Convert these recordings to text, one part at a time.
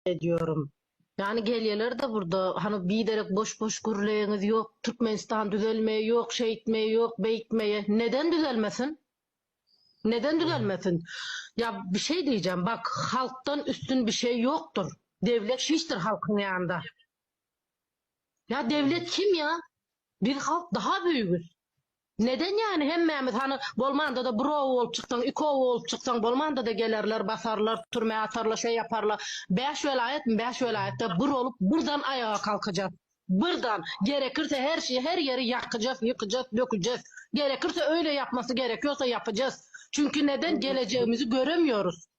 edýorim. Ýani gelýelerda burda hany biderek boş boş gürleýeňiz ýok Türkmenistan düzelmeýe ýok şeýtmeýe ýok beýtmeýe neden düzelmesin neden düzelmesin ýa bir şeý diýjäm bak halkdan üstün bir şeý ýokdyr dewlet hiçdir halkyň ýanynda ýa dewlet kim ýa biz halk daha büýügüz. Neden yani hemmämiz hany bolmanda-da bir oba bolup çyksaň iki oba bolup çyksaň bolmanda-da gelerler basarlar türmä atarlar şeý yaparla bäş welaýatmy bäş welaýatda bir olup bir dan aýaga kalkyjas bir dan gerekirse her şeý her ýeri ýakyjas ýykyjas döküjes gerekirse öýle ýapmasy gerek ýogsa ýapyjas çünki neden gelejegimizi göremýorus.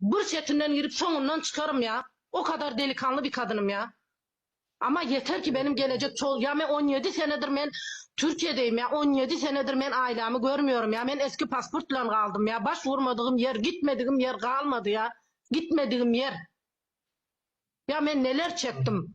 Bir çetinden girip soňundan çykarym ya o kadar delikanlı bir kadynım ya ama yeter ki benim gelecek çol ya men on yedi senedir men Türkiyedeym ya on yedi senedir men ailami görmüyorum ya men eski pasport bilen galdym ya baş vurmadygyim yer gitmedigim yer galmady ya gitmedigim yer ya men neler çekdim.